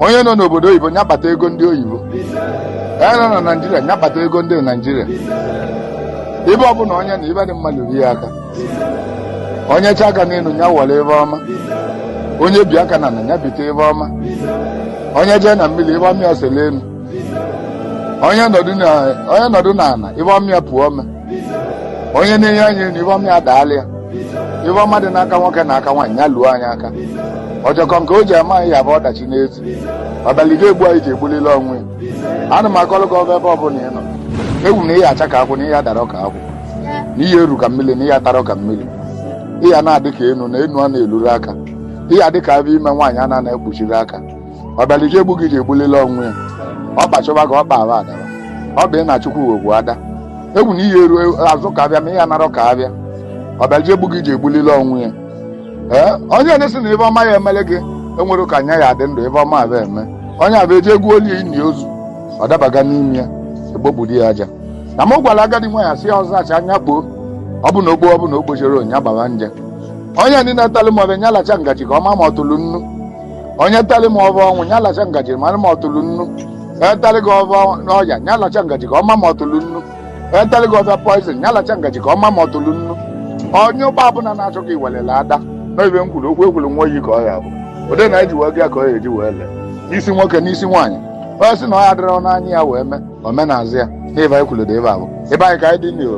onye nọ n'obodo oyibo nya kpata ego ndị oyibo onye nọ na naijiria nya kpata ego ndị naijiria ibe ọbụla onye nọ ife dị mma luru ya aka onye chie aka n'elu ya were ife ọma onye bie aka n'ana ya bite ife ọma onye jee na mmiri ife ọma ya sele elu onye nọdụ n'ala ife ọma ya puo ome onye na-ene anya elu ife ọma ya daalị ya ife ọma dị n'aka nwoke na aka nwaanyị ya luo anyị aka ọjọkọ nke o ji ama anyị ya bụ ọdachi n'ezi ọbịala iji egbu anyị ji egbulile onwe ya ana m agọlụ gị ọfọ ebe ọ bụla ị nọ ekwu na ị ya-acha ka akwụ na ị ya-adarọ ka akwụ na ị ya-eru ka mmiri na ị ya-atarọ ka mmiri ị ya na-adị ka enu na enu a na-eluru aka ị ya-adị ka afọ ime nwaanyị a na-ekpuchiri aka ọbịala iji egbu gị ji egbulile onwe ya ọ kpachọba ka ọ kpa aba adaba ọ bụ ị na chukwu wegbu ada ekwu na ị ya-eru azụ ka afịa ma ị ya-anarọ ka afịa ọbịala iji egbu gị ji egbulile onwe ya ee onye na-asị na ife ọma ya emele gị o nwerọ ka nya ya-adị ndụ ife ọma afụ eme onye afụ eje egwu oli ini ozu ọ dabaga n'ime ya ekpokpudo ya aja na m gwara agadi nwaanyị sị ya ọ zachaa nya kpoo ọ bụ na o kpo ọ bụ na o kpozirọ nya agbara nje onye ndị na-etelụ m ofe nya lacha ngaji ka ọ ma ma ọ tụrụ nnu onye teli m ofe ọnwụ ya lacha ngaji mara ma ọ tụlụ nnu onye teli gị ofe ọya ya lacha ngaji ka ọ ma ma ọ tụlụ nnu onye teli gị ofe poizin ya lacha ngaji ka ọ ma ma ọ tụlụ nnu onye ụgbọ ọbụla na-achọ ka i welele ada n'ọ ife m kwuru okwu ekwuru nwa oyi ka ọ ya bụ ụdị na eji wee gị ka ọ ya eji wee lee n'isi nwoke n'isi nwaanyị onye sị na ọ ya dịrọ n'anya ya wee mee omenazị ya n'ife anyị kwuru dị ebe a bụ ife anyị ka anyị dị n'ihu